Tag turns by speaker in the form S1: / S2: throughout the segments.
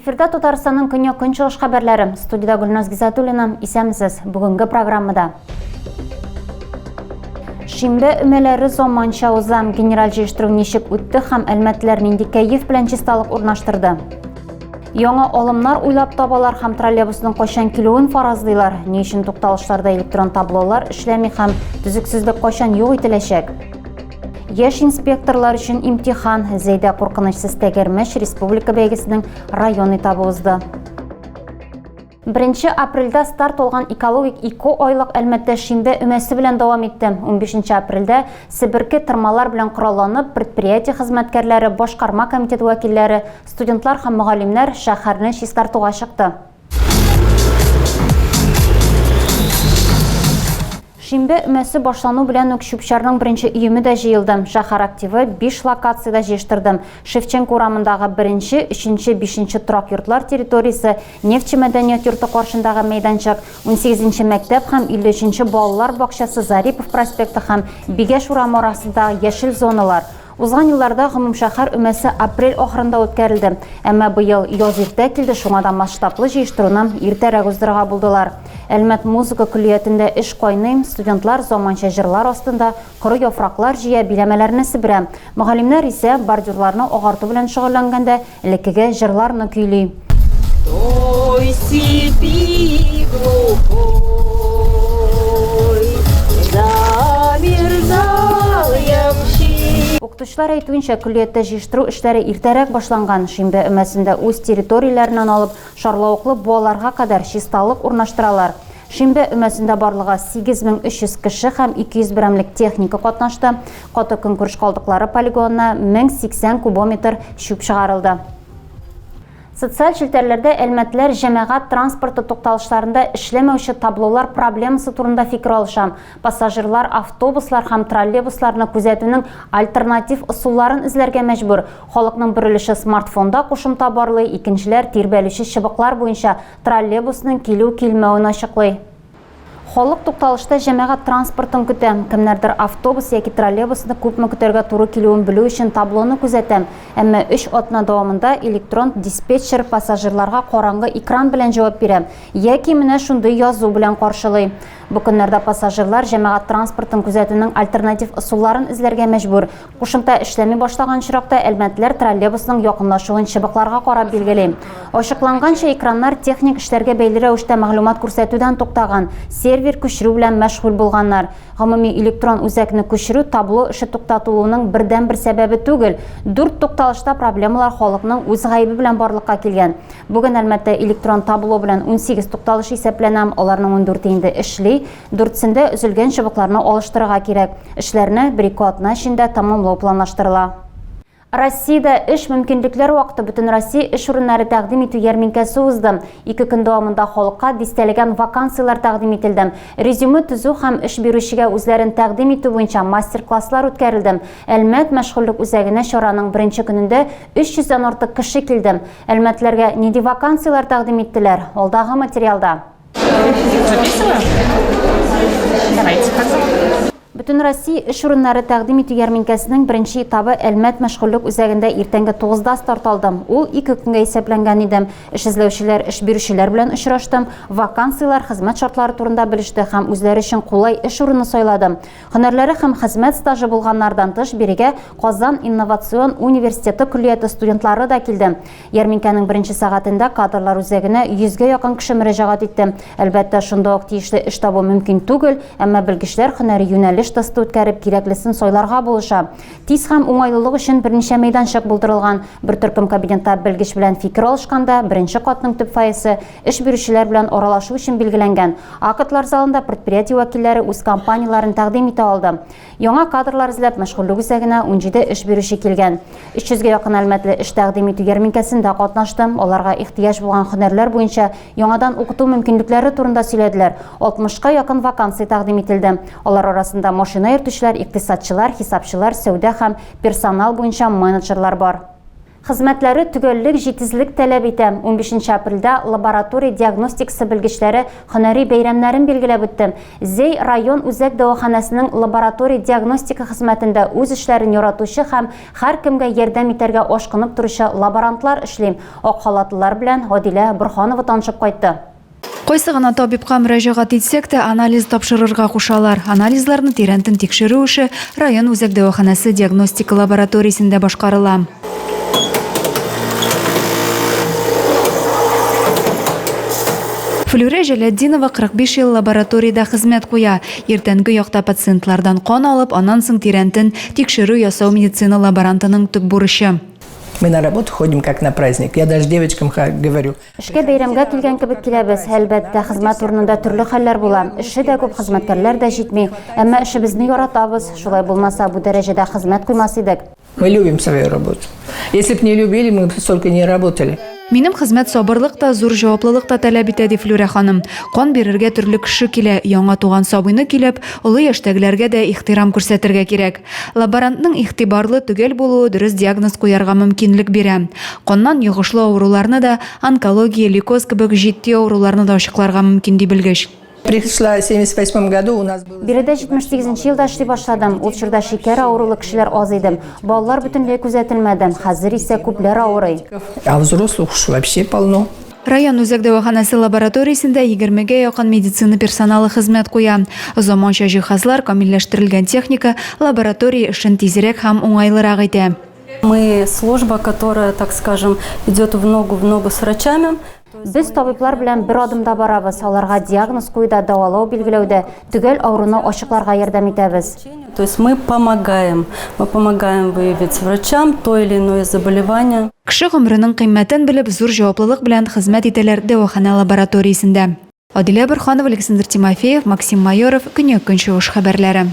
S1: Эфирда Татарстанның көньяк көнчыгыш хәбәрләре. Студиядә Гөлназ Гизатуллина. Исәмсез. Бүгенге программада. Шимбе өмәләре заманча уза. Генераль җыештыру ничек үтте һәм әлмәтләр нинди кәеф белән чисталык урнаштырды? Яңа алымнар уйлап табалар һәм троллейбусның кайчан килүен фаразлыйлар. Ни өчен тукталышларда электрон таблолар эшләми һәм төзексезлек кайчан юк ителәчәк? Яш инспекторлар өчен имтихан Зәйдә куркынычсыз тәгәрмәч республика бәйгесенең район этабы узды. Беренче апрельдә старт алган экологик ике айлык Әлмәттә шимбә өмәсе белән дәвам итте. Унбишенче апрельдә себерке тырмалар белән коралланып, предприятие хезмәткәрләре, башкарма комитет вәкилләре, студентлар һәм мөгаллимнәр шәһәрне чистартуга чыкты. Шимбә өмәсе башлану белән үк чүп-чарның беренче өеме дә җыелды. Шәһәр активы биш локациядә җыештырды. Шевченко урамындагы беренче, өченче, бишенче торак йортлар территориясе, Нефтьче мәдәният йорты каршындагы мәйданчык, унсигезенче мәктәп һәм илле өченче балалар бакчасы Зарипов проспекты һәм Бигәш урамы арасындагы яшел зоналар, Узган елларда гомумшәһәр өмәсе апрель ахырында үткәрелде, әмма быел яз иртә килде, шуңа да масштаблы җыештыруны иртәрәк уздырырга булдылар. Әлмәт музыка көллиятендә эш кайный, студентлар заманча җырлар астында коры яфраклар җыя, биләмәләрне себерә. Мөгаллимнәр исә бордюрларны агарту белән шөгыльләнгәндә, Элеккеге җырларны көйли. Ой, сипи, Укытучылар әйтүенчә, көллияттә җыештыру эшләре иртәрәк башланган. Шимбә өмәсендә үз территорияләреннән алып, шарлавыклы буаларга кадәр чисталык урнаштыралар. Шимбә өмәсендә барлыгы 8300 кеше һәм 200 берәмлек техника катнашты, каты көнкүреш калдыклары полигонына 1080 кубометр чүп чыгарылды. Социаль челтәрләрдә әлмәтлеләр җәмәгать транспорты тукталышларында эшләмәүче таблолар проблемасы турында фикер алыша, пассажирлар автобуслар һәм троллейбусларны күзәтүнең альтернатив ысулларын эзләргә мәҗбүр, халыкның бер өлеше смартфонда кушымта барлый, икенчеләр тирбәлүче чыбыклар буенча троллейбусның килү-килмәвен ачыклый. Халык тукталышта җәмәгать транспортын көтә. Кемнәрдер автобус яки троллейбусны күпме көтәргә туры килүен белү өчен таблоны күзәтә. Әмма өч атна дәвамында электрон диспетчер пассажирларга караңгы экран белән җавап бирә яки менә шундый язу белән каршылый. Бу көннәрдә пассажирлар җәмәгать транспортын күзәтүнең альтернатив ысулларын эзләргә мәҗбүр. Кушымта эшләми башлаган очракта әлмәтләр троллейбусның якынлашуын чыбыкларга карап билгели. Ачыкланганча, экраннар техник эшләргә бәйле рәвештә мәгълүмат күрсәтүдән туктаган, сервер күчерү белән мәшгуль булганнар. Гомуми электрон үзәкне күчерү табло эше туктатылуының бердәнбер сәбәбе түгел. Дүрт тукталышта проблемалар халыкның үз гаебе белән барлыкка килгән. Бүген Әлмәттә электрон табло белән унсигез тукталыш исәпләнә, аларның ундүрте инде эшли. Дүртсендә өзелгән чыбыкларны алыштырырга кирәк. Эшләрне бер-ике атна эчендә тәмамлау планлаштырыла. Россиядә Эш, мөмкинлекләр вакыты бөтенроссия эш урыннары тәкъдим итү ярминкәсе узды. Ике көн дәвамында халыкка дистәләгән вакансияләр тәкъдим ителде. Резюме төзү һәм эш бирүчегә үзләрен тәкъдим итү буенча мастер-класслар үткәрелде. Әлмәт мәшгульлек үзәгенә чараның беренче көнендә 300 дән артык кеше килде. Әлмәтлеләргә нинди вакансияләр тәкъдим иттеләр? Алдагы материалда. Бөтенроссия эш урыннары тәкъдим итү ярминкәсенең беренче этабы Әлмәт мәшгульлек үзәгендә иртәнге 9-да старт алды. Ул ике көнгә исәпләнгән иде. Эш эзләүчеләр эш бирүчеләр белән очрашты, вакансияләр, хезмәт шартлары турында белеште һәм үзләре өчен кулай эш урыны сайлады. Һөнәрләре һәм хезмәт стажы булганнардан тыш, бирегә Казан инновацион университеты көллияте студентлары да килде. Ярминкәнең беренче сәгатендә кадрлар үзәгенә йөзгә якын кеше мөрәҗәгать итте. Әлбәттә, шунда ук тиешле эш табу мөмкин түгел, әмма белгечләр һөнәри юнәлеш тесты үткәреп, кирәклесен сайларга булыша. Тиз һәм уңайлылык өчен берничә мәйданчык булдырылган. Бер төркем кабинетта белгеч белән фикер алышканда, беренче катның төп фойесы Эш бирүчеләр белән аралашу өчен билгеләнгән актлар залында предприятие вәкилләре үз компанияләрен тәкъдим итә алды. Яңа кадрлар эзләп мәшгульлек үзәгенә 17 эш бирүче килгән. 300 гә якын әлмәтле эш тәкъдим итү ярминкәсендә катнашты, аларга ихтыяҗ булган һөнәрләр буенча яңадан укыту мөмкинлекләре турында сөйләделәр. 60 ка якын вакансия тәкъдим ителде. Алар арасында машина йөртүчеләр, икътисадчылар, хисапчылар, сәүдә һәм персонал буенча менеджерлар бар. Хезмәтләре төгәллек, җитезлек таләп итә. Унбишенче апрельдә лаборатория диагностикасы белгечләре һөнәри бәйрәмнәрен билгеләп үтте. Зәй район үзәк дәваханәсенең лаборатория диагностика хезмәтендә үз эшләрен яратучы һәм һәркемгә ярдәм итәргә ашкынып торучы лаборантлар эшли. Ак халатлылар белән Гадилә Борһанова танышып кайтты. Кайсы гына
S2: табибка мөрәҗәгать итсәк тә, анализ тапшырырга кушалар. Анализларны тирәнтен тикшерү эше район үзәк дәваханәсе диагностика лабораториясендә башкарыла. Флүрә Җәләтдинова 45 ел лабораториядә хезмәт куя. Иртәнге якта пациентлардан кан алып, аннан соң тирәнтен тикшерү ясау медицина лаборантының төп бурычы. Мы на работу
S3: ходим как на праздник. Я даже девочкам говорю. Эшкә бәйрәмгә
S1: килгән кебек киләбез. Әлбәттә, хезмәт урынында төрле хәлләр була. Эшче дә күп, хезмәткәрләр дә җитми. Әмма эшебезне яратабыз. Шулай булмаса, бу дәрәҗәдә хезмәт куймас идек. Мы любим свою
S3: работу. Если б не любили, мы б столько не работали. Минем хезмәт
S2: сабырлык та, зур җаваплылык та таләп итә, ди Флүрә ханым. Кан бирергә төрле кеше килә. Яңа туган сабыйны көйләп, олы яшьтәгеләргә дә ихтирам күрсәтергә кирәк. Лаборантның игътибарлы төгәл булуы дөрес диагноз куярга мөмкинлек бирә. Каннан йогышлы авыруларны да, онкология, лейкоз кебек җитди авыруларны да ачыкларга мөмкин, ди белгеч. Пришла в
S3: семьдесят восьмом году, у нас было. Биредә 78 нче
S1: елда эшли башладым. Ул чорда шикәр авырулы кешеләр аз иде. Балалар бөтенләй күзәтелмәде. Хәзер исә күпләр авырый. А взрослых
S3: уж вообще полно. Район үзәк
S2: дәваханәсе лабораториясендә егермегә якын медицина персоналы хезмәт куя. Заманча җиһазлар, камилләштерелгән техника лаборатория эшен тизрәк һәм уңайлырак итә. Мы,
S4: служба, которая, так скажем, идет в ногу в ногу с врачами. Без табиблар
S1: белән бер адымда барабыз, аларга диагноз куюда, дәвалау-билгеләүдә, Төгәл авыруны ачыкларга ярдәм итәбез. То есть мы
S4: помогаем, мы помогаем выявить врачам то или иное заболевание. Кеше гомеренең
S2: кыйммәтен белеп, зур җаваплылык белән хезмәт итәләр дәваханә лабораториясендә. Адилә Борханова, Александр Тимофеев, Максим Майоров, Көньяк-Көнчыгыш хәбәрләре.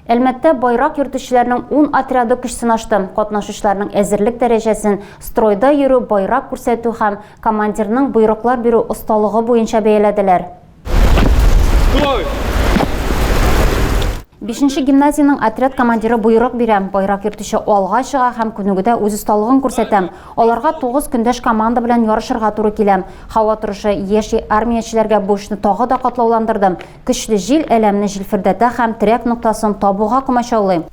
S1: Әлмәттә байрак йөртүчеләрнең ун отряды көч сынашты. Катнашучыларның әзерлек дәрәҗәсен стройда йөрү, байрак күрсәтү һәм командирның боерыклар бирү осталыгы буенча бәяләделәр. Бишенче гимназиянең отряд командиры боерык бирә, байрак йөртүче алга чыга һәм күнегүдә үз осталыгын күрсәтә. Аларга тугыз көндәш команда белән ярышырга туры килә. Һава торышы яшь армиячеләргә бу эшне тагы да катлауландырды. Көчле җил әләмне җилфердәтә һәм терәк ноктасын табуга комачаулый.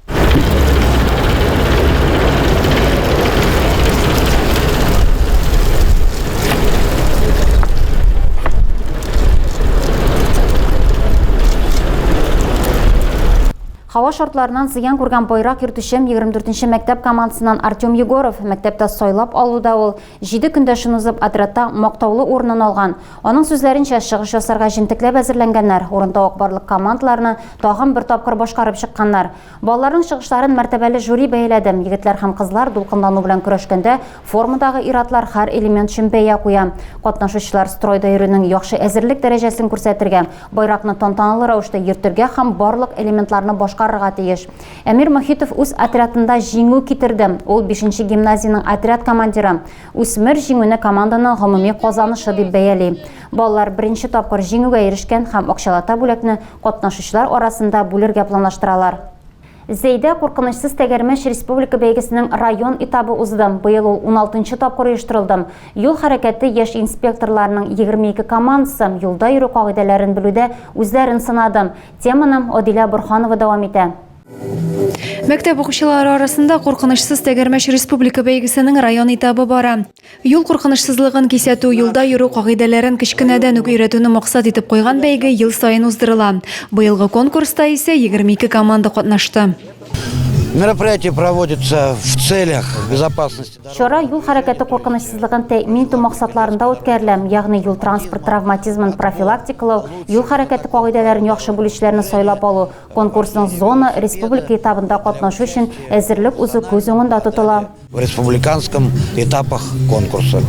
S1: Һава шартларынан зыян күргән байрак йөртүчем 24 нче мәктәп командасыннан Артем Егоров мәктәптә сайлап алуда ул Җиде көндәшен узып, отрядта мактаулы урынын алган, аның сүзләренчә, чыгыш ясарга җентекләп әзерләнгәннәр, урынтавык барлык командаларны тагын бер тапкыр башкарып чыкканнар. Балаларның чыгышларын мәртәбәле жюри бәяләде. Егетләр һәм кызлар дулкынлану белән көрәшкәндә, формадагы ир-атлар һәр элемент өчен бәя куя. Катнашучылар стройда йөрүнең яхшы әзерлек дәрәҗәсен күрсәтергә, байракны тантаналы рәвештә йөртергә һәм барлык элементларны башкарырга тиеш. Әмир Мохитов үз отрядында җиңү китерде. Ул бишенче гимназиянең отряд командиры. Үсмер җиңүне команданың гомуми казанышы дип бәяли. Балалар беренче тапкыр җиңүгә ирешкән һәм акчалата бүләкне катнашучылар арасында бүлергә планлаштыралар. Зәйдә куркынычсыз тәгәрмәч республика бәйгесенең район этабы узды. Быел ул уналтынчы тапкыр оештырылды. Юл хәрәкәте яшь инспекторларының егерме ике командасы юлда йөрү кагыйдәләрен белүдә үзләрен сынады. Теманы Одилә Бурханова дәвам итә.
S2: Мәктәп укучылары арасында куркынычсыз тәгәрмәч республика бәйгесенең район этабы бара. Юл куркынычсызлыгын кисәтү, юлда йөрү кагыйдәләрен кечкенәдән үк өйрәтүне максат итеп куйган бәйге ел саен уздырыла. Быелгы конкурста исә 22 команда катнашты.
S5: Мероприятие проводится в целях безопасности. Чара юл хәрәкәте
S1: куркынычсызлыгын тәэмин итү максатларында үткәрелә, ягъни юл-транспорт травматизмын профилактикалау, юл хәрәкәте кагыйдәләрен яхшы белүчеләрне сайлап алу, конкурсның зона, республика этабында катнашу өчен әзерлек узу күз уңында тотыла. В республиканском
S5: этапах конкурса.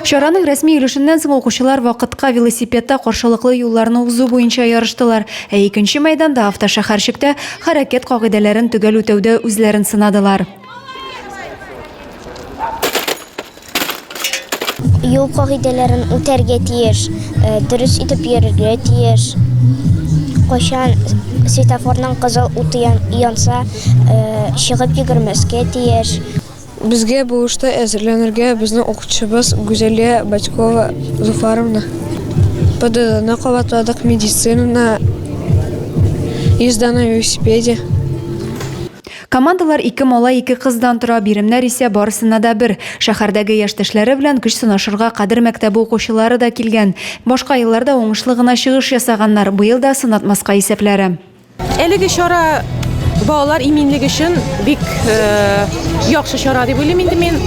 S5: Чараның
S2: рәсми өлешеннән соң укучылар вакытка велосипедта каршылыклы юлларны узу буенча ярыштылар, ә икенче мәйданда, автошәһәрчектә, хәрәкәт кагыйдәләрен төгәл үтәүдә үзләрен сынадылар.
S6: Юл кагыйдәләрен үтәргә тиеш, э, дөрес итеп йөрергә тиеш. Кайчан светофорның кызыл уты янса, э, чыгып йөгермәскә тиеш.
S7: Безгә бу эштә әзерләнергә безнең укытучыбыз Гүзәлия Батькова Зуфаровна. ПДДны кабатладык, медицинаны, езда на велосипеде.
S2: Командалар ике малай, ике кыздан тора, биремнәр исә барысына да бер. Шәһәрдәге яшьтәшләре белән көч сынашырга Кадер мәктәбе укучылары да килгән. Башка елларда уңышлы гына чыгыш ясаганнар, быел да сынатмаска исәпләре. Әлеге чара
S8: балалар иминлеге өчен бик яхшы чара дип уйлыйм инде мин.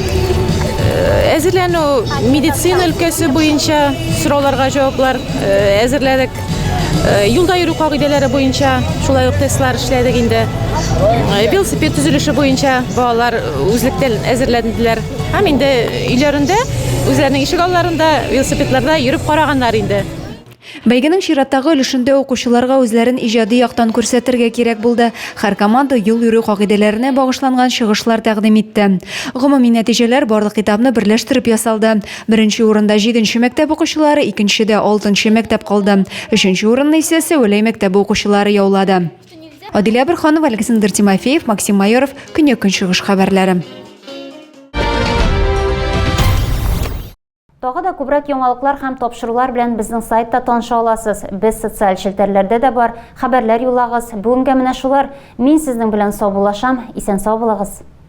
S8: Әзерләнү медицина өлкәсе буенча сорауларга җаваплар әзерләдек. Э, юлда йөрү кагыйдәләре буенча шулай ук тестлар эшләдек инде э, велосипед төзелеше буенча балалар үзлектән әзерләнделәр һәм инде өйләрендә үзләренең ишек алларында велосипедларда йөреп караганнар инде Бәйгенең
S2: чираттагы өлешендә укучыларга үзләрен иҗади яктан күрсәтергә кирәк булды. Һәр команда юл йөрү кагыйдәләренә багышланган чыгышлар тәкъдим итте. Гомуми нәтиҗәләр барлык китапны берләштереп ясалды. Беренче урында җиденче мәктәп укучылары, икенчедә алтынчы мәктәп калды. Өченче урынны исә Сәвәләй мәктәбе укучылары яулады. Адилә Борханова, Александр Тимофеев, Максим Майоров, Көньяк-Көнчыгыш хәбәрләре.
S1: Тагы да күбрәк яңалыклар һәм тапшырулар белән безнең сайтта таныша аласыз. Без социаль челтәрләрдә дә бар. Хәбәрләр юллагыз. Бүгенгә менә шулар. Мин сезнең белән саубуллашам. Исән-сау булыгыз.